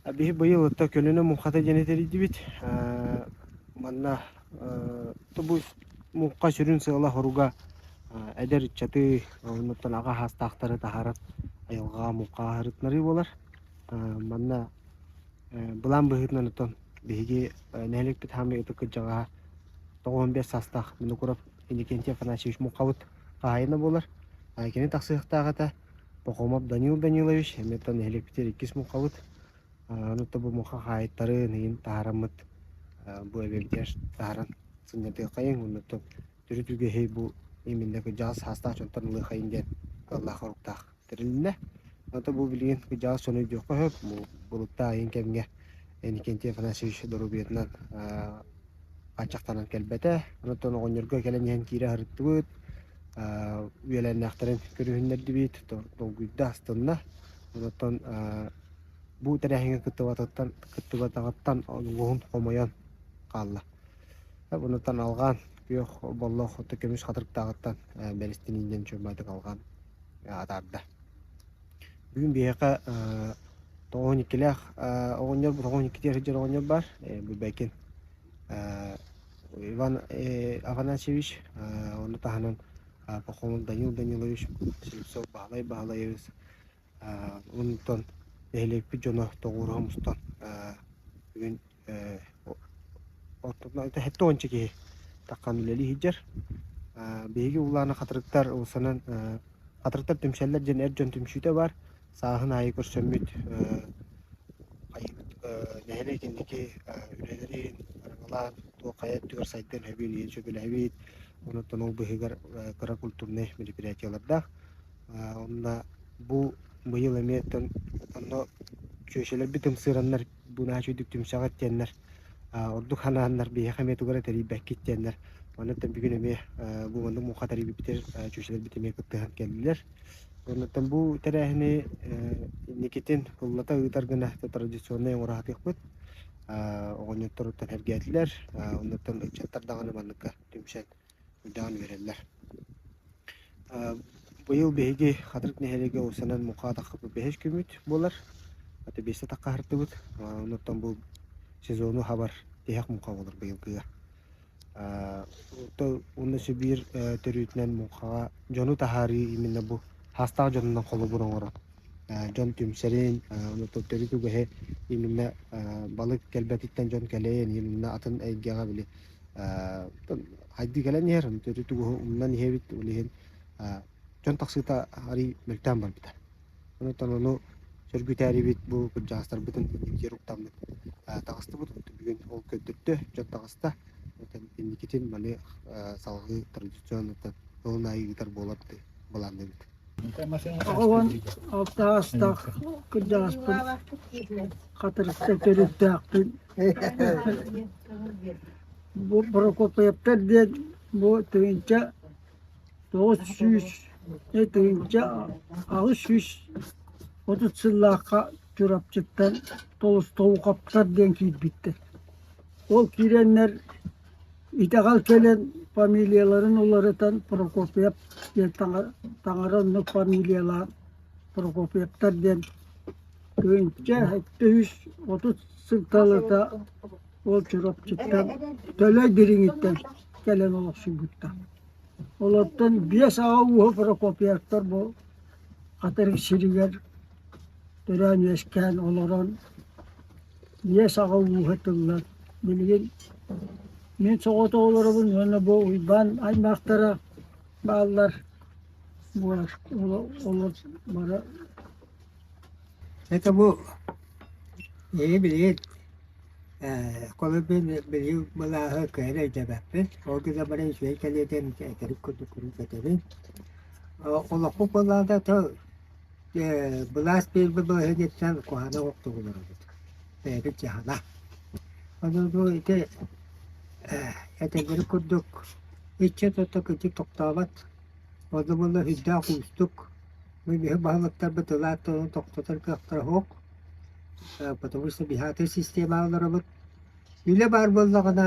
Биһи быйыл ытта көнөнө муҥхата диэни тэрийдибит. Э, манна э, тобу муҥха сүрүн сыала-соруга э, эдэр ыччаты оннуттан аҕа саастаахтары таһаарар айылҕаҕа муҥха ааһарытынарыы буолар. Э, манна э, былаан быһыытынан оттон биһиги э, нэһилиэкпит хаамыы ытык кырдьаҕаһа тоҕус уон биэс саастаах Винокуров Иннокентий Афанасьевич муҥхабыт хаһаайына буолар. Э, кини тахсыахтаах этэ. Пахомов Данил Данилович, эмиттэн нэһилиэкпитигэр иккис муҥхабыт. Онуоттан бу муҥха хаһаайыттарын иһин таһараммыт бу эбэбитигэр таһаран сынньатыаххайыҥ онуоттан төрүт үгэһи бу иминнэ кырдьаҕас саастаах дьонтон ылыаххайыҥ диэн ыллаах-соруктаах тэрилиннэ. Онуоттан бу билигин кырдьаҕас дьону өйдүөххэ сөп, булуктаах ийэҥ кэмҥэ Иннокентий Афанасьевич доруобуйатынан хаччахтанан кэлбэтэ. Онтон оҕонньорго кэлэн иһэн киирэ сырыттыбыт. Үөлээннээхтэрин көрүһүннэрдибит, долгуйда, астынна. Онтон бу тэрээһиҥҥэ кыттыбатаҕыттан улууһун хомойон хаалла. Онтон алҕаан күөх боллох көмүс хатырыктааҕыттан бэристин ииннэн чуумаатык алҕаан атаарда. Бүгүн биһиэхэ э, тоҕуһун иккилээх э, оҕонньор тоҕуһун иккитигэр сылдьар оҕонньор бар. Э, Бүбэкин э, Иван э, Афанасьевич э, ону таһынан э, Пахомов Данил Данилович Слепцов Баһылай Баһылайыбыс э, онтон нэһилиэкпит дьоно тоҕуруһа мустан э, бүгүн Э, тоонча киһи таккан үлели хиджер биһиги улаана хатырыктар усанан хатырыктар түмсэллер ден эр дьон түмсүүтэ бар сааһын аайы көрсөммүт хайыбыт нэһилик инники үлэлэрин арыгалаан туох хайа өттүгэр сайдан хэбин ийэн сөбүлэһэбит онуттан ол быһыгар кыра культурнай мероприятиялардаах онно бу быйыл эмиэ онно чүөчэлэрбит ымсыыраннар Бунаача үрдүк түмсэҕит диэннэр, ордук ханааннар биһиэхэ эмиэ тугу эрэ тэрийбэккит диэннэр, оннуттан бүгүн эмиэ бу маннык муҥха тэрийбиппитигэр чүүчэлэрбит эмиэ кыттыһан кэллилэр. Оннуттан бу тэрээһини инникитин ыллата ыытар гына традиционнай оҥороотохпут. оҕонньоттор оттон эргээтилэр, оннуттан ыччаттар даҕаны манныкка түмсэн уйдаан үөрэллэр. быйыл биһиги Хатырык нэһилиэгэ уулуссанан муҥха атахха бэһис күммүт буолар. Ата биэсэ атахха аһардыбыт. Онуттан бу сезону хабар тиһэх муҥха буолар быйылгыга. Уонна Сибиир төрүтүнэн муҥхаҕа дьону таһаарыы именно бу саастаах дьонунан холобур оҥорор. дьон түмсэрин, онуттан төрүт үгэһи именно балык кэлбэтиттэн дьон кэлэйэн именно атын эйгэҕэ били Хайдыы кэлэн иһэр, тугуһу умнан иһэбит, ол иһин дьон тахсыыта арый мөлтөөн барбыта. Онуттан ону сөргүтээрибит бу кырдьаҕастарбытын инникитигэр уктаммыт таҕыстыбыт. Бүгүн ол көрдөрдө, дьон таҕыста. Инникитин маны салҕыы традиционно тылын аайы ыытар буолар дии былаанныыбыт. Оҕобун алта аастаах кырдьаҕаспын Хатырыкка төрүттээхпин. Бу Прокопьевтар диэн бу тыһыынча тоҕус сүүс тыһыынча аҕыс сүүс отут сыллаахха Чурапчыттан Толстоуковтар диэн киирбиттэр. Ол киирэннэр Итэҕэл кэлэн фамилияларын уларытан Прокопьев диэн таҥара онно фамилиялаан Прокопьевтар диэн күнчэ өттүс отут сылталата ол Чурапчыттан Төлөй Дириҥиттэн кэлэн олохсуйбуттар. Олортон биэс аҕа ууһа Прокопьевтар бу атырык сиригэр төрөөн үөскээн олорон иэс аҕа ууһа тыллар билигин мин соҕотоҕолоробун уонна бу Уйбаан аймахтара бааллар буолар олор бара это бу эһи билигин холобин билиу былааһы кыайан өйдөөбөппүн ол гына бары үчүгэй кэлиэтин кэтэбин курдук кэтэбин олохпут былаата тыл Э, былаас биэрбит балаһыанньаттан куһаҕана оҕохтук олоробут. Бэйэбит дьаһана. Ону ити э, этэллэри курдук ыччат-отто кырдьык тохтообот. Ону буолла сүрдээх уустук. Быһы баһылыктарбыт ылаат тонун тохтотор кыахтара суох. Э, потому что биһаатыр система олоробут. Үлэ баар буоллаҕына,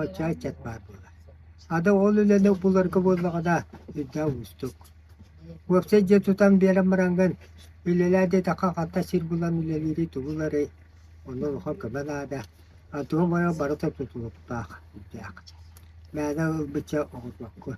отчааччыт баар буолар. Ада ол үлэни буларга буоллаҕына, үрдээх уустук. Уопсай дьиэ тутан биэрэн бараҥҥын, үлэлээ диэтэххэ, ханта сир булан үлэлиири тугуларый, онно улахан көмө наада. Антоһум ойо барыта тутулуктаах, үрдээх. Мээнэ ылбычча оҕотуоххун.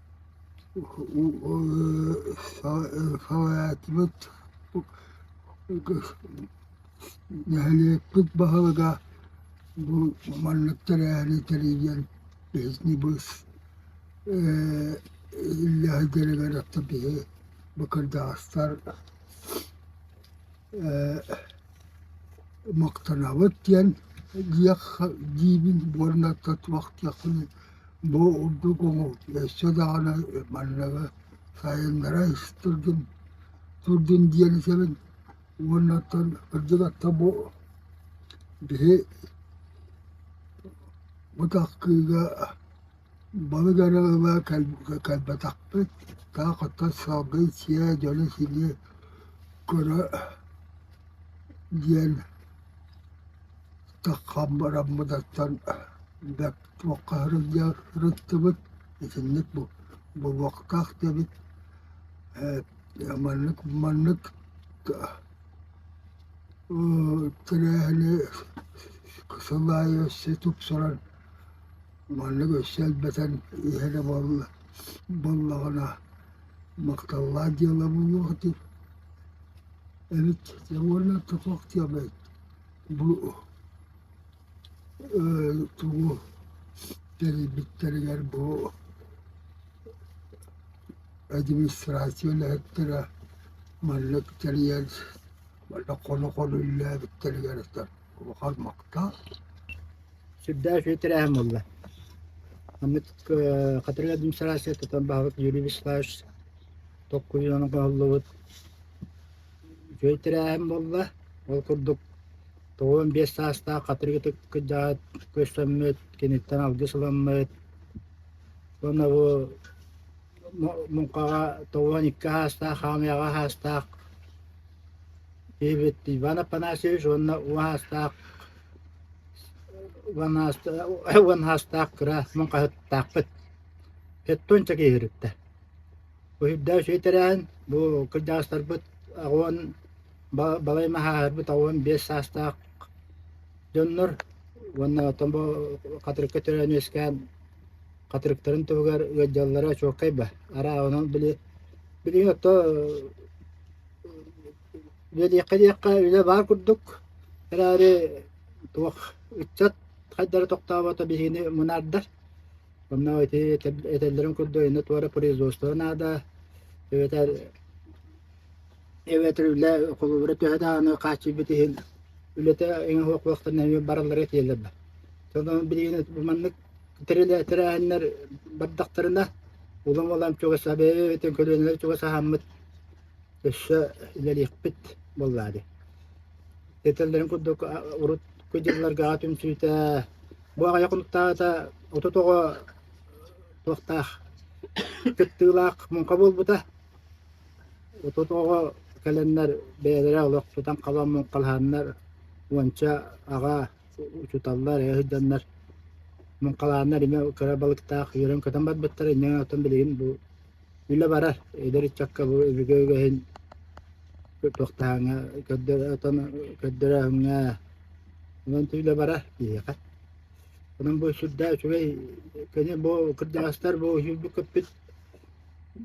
Салаатыбыт нэһилиэкпит баһылыга бу маннык тэрээһини тэрийэн биһигини быыс үллэһи гэрэгэр атта биһи быкырдаастар мактанабыт диэн диэххэ диибин уонна туох диэххиний Бу ордук өссө даҕаны манныгы сайыннара турдун турдун диэн этэбин уонна оттон кырдьык ата бу биһи бу тахсыыга балык эрэ ыла кэлбэтэхпит таах оттон салгыы сиэ дьоно-сиини көрө диэн таххаммытаттан бэрт Туохха сылдьарыттыбыт итинник бобуохтаах диэбит ээ маннык маннык тэрээһини сыл аайы өссө тупсаран маннык өссө элбэтэн иһэр буолла буоллаҕына махталлаах дьыала буолуох дии эбит уонна туох диэбэй бу Тугу тэрийбиттэригэр бу администрация үлэһиттэрэ маннык тэрийэр манна хоно-хоно үлэлээбиттэригэр улахан махтал. Сүрдээх үчүгэй тэрээһин буолла. Маннык Хатырык администрация тутан баһабыт Юрий Вячеславович толкуйунан кыһаллыбыт үчүгэй тэрээһин буолла. Ол курдук Тоҕон биэс саастаах хатырыгытык кырдьаҕас көстөммүт, киниттэн алгыс ылыммыт. Уонна бу муҥхаҕа тоҕуон икки саастаах, хаамыйаҕа саастаах киһибит Иван Афанасьевич уонна уон саастаах уон саастаах кыра муҥхаһыттаахпыт Петтунча кииһириттэ Өһүрдээш үһү тэрээһин бу кырдьаҕастарбыт аҕыан балай маһааһарбыт аҕыан биэс саастаах дьоннор уонна оттон бу Хатырыкка төрөөн үөскээн Хатырыктарын туһугар ыалдьаллара чуолкай ба. Араа онон били билигин отто үлэлиэххэ-диэххэ үлэ баар курдук эрээри туох ыччат хайдары тохтообото биһигини мунаардар Онно ити этэллэрин курдук инна туора производство наада эбэтэр эбэтэр үлэ холобура төһө даҕаны хааччыйбыт иһин үлэтэ эҥэ хуохуохтан эмиэ бараллара тиэлэр бар. Сону билигин бу маннык тэрээһиннэр бардахтарына улам улам чугас эбэтин көлүөнэлэр чугас аһаммыт өссө үлэлиэхпит буоллаары. Этэллэрин курдук урут дьылларга түмсүүтэ Бу аҕайа хонуктаата отут оҕо туохтаах кыттыылаах муҥха буолбута. Отут оҕо кэлэннэр бэйэлэрэ олох тутан халан муҥхалааннар уонча аҕа учуталлар эһэ сылдьаннар муҥхалааннар имэ кыра балыктаах үөрэн көтөн барбыттара инньэ оттон билигин бу Үлэ барар, эдэр ыччакка бу өбүгэ үгэһин туохтааҕыҥа көрдөрө көрдөрөөҥҥө онон үлэ барар киһиэхэ. Онон бу сүрдээх үчүгэй кини бу кырдьаҕастар бу сүүрбүк көппүт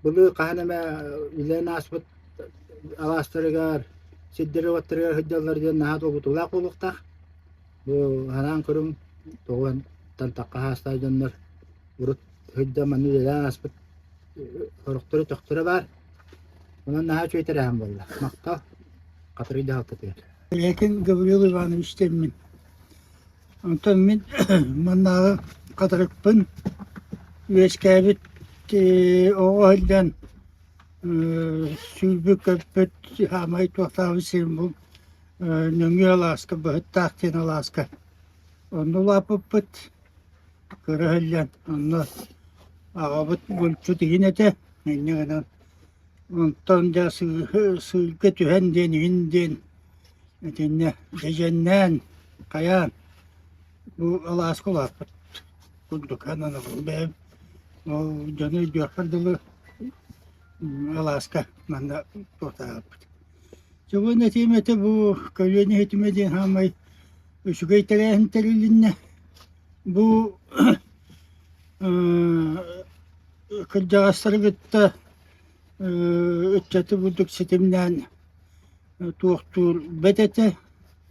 былыр хаһан эмэ үлэлэн ааспыт алаастарыгар, сирдэрэ-уоттарыгар сылдьаллар диэн наһаа долгутуулаах буолуохтаах. Бу санаан көрүҥ, тоҕуһан тантахха хаастаах дьоннор урут сыһыдда манна үлэлээн ааспыт сорохтору төхтөрө баар. Онон наһаа үчүгэй тэрээһин буолла. Махта Хатырый дьаһалтатыгар. Ләкин Гаврил Иванович теммин. Онтон мин маннааҕы хатырыкпын үөскээбит оҕо сылдьан сүүрбү көппүт саамай туохтаабыт сирим бу нөҥүө алааска быһыттаах диэн алааска онно улааппыппыт көрөһөллөр онно аҕабыт булчут иһин этэ инньэ гынан онтон дьэ сыырга түһэн диэн иһин диэн итиннэ дьэдьэннээн хайаан бу алааска улааппыт курдук ананабын бэйэм ол дьону өйдүөхпэр дылы алааска манна туотаабыт чугун этиим этэ бу көлүөнэ иһитимэ диэн хаамай үчүгэй тэрээһин тэрилиннэ. Бу кырдьаҕастары кытта ыччаты бурдук ситимнээн туохтуур бэт этэ,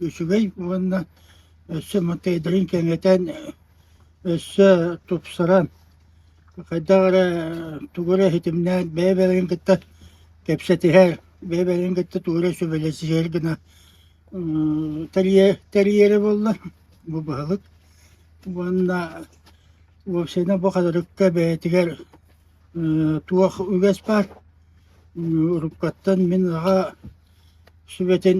үчүгэй уонна өссө матайдарын кэҥэтэн, өссө тупсаран, хайдах эрэ тугу эрэ ситимнээн бэйэ-бэйэлэрин кытта кэпсэтиһэр, бэйэ-бэйэлэрин кытта тугу эрэ сүбэлэсиһэр гына тэрийэрэ буолла бу баһылык уонна уопсайынан бу хатырыкка бэйэтигэр туох үгэс баар уруккаттан мин аҕа сүбэтин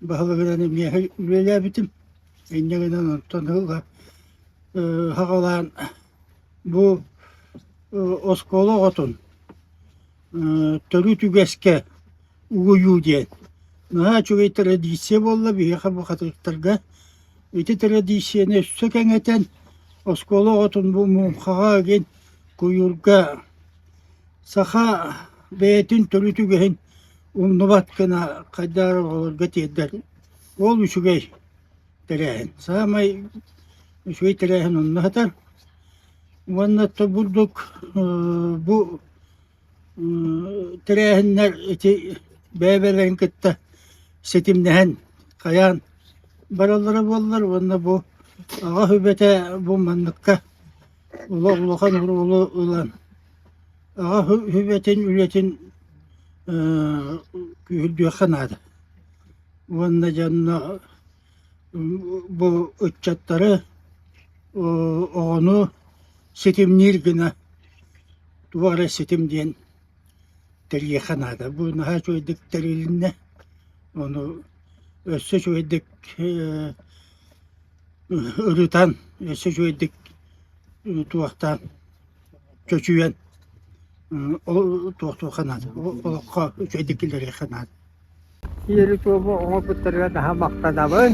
баһылыгынан эмиэ үлэлээбитим инньэ гынан онтон ыла хаҕалаан бу оскуола оҕотун төрүт үгэскэ угуйуу диэн. Наһаа үчүгэй традиция буолла биһиэхэ бухатыыртарга. Ити традицияны өссө кэҥэтэн, оскуола оҕотун бу муҥхаҕа ыгын, куйуурга саха бэйэтин төрүт үгэһин умнубат гына хайдах эрэ оҕолорго тиэрдэр. Ол үчүгэй. тэрээһин. Саамай үчүгэй тэрээһин онно сытар. Уонна то бурдук бу тэрээһиннэр ити бэйэ-бэйэлэрин кытта ситимнэһэн хайаан бараллара буоллар уонна бу аҕа сүбэтэ бу манныкка олох улахан оруолу ылан аҕа сүбэтин үлэтин күүһүрдүөххэ наада. уонна дьонно бу ыччаттары оҕону ситимниир гына туох эрэ ситим диэн тэрийиэххэ наада. Бу наһаа үчүгэйдик тэрилиннэ. Ону өссө үчүгэйдик ырытан, өссө үчүгэйдик туһахтаан чочуйан ол туохтуохха наада олоххо үчэйдик киллэриэххэ наада Ерикова оҥорбуттарыгар наһаа махтанабын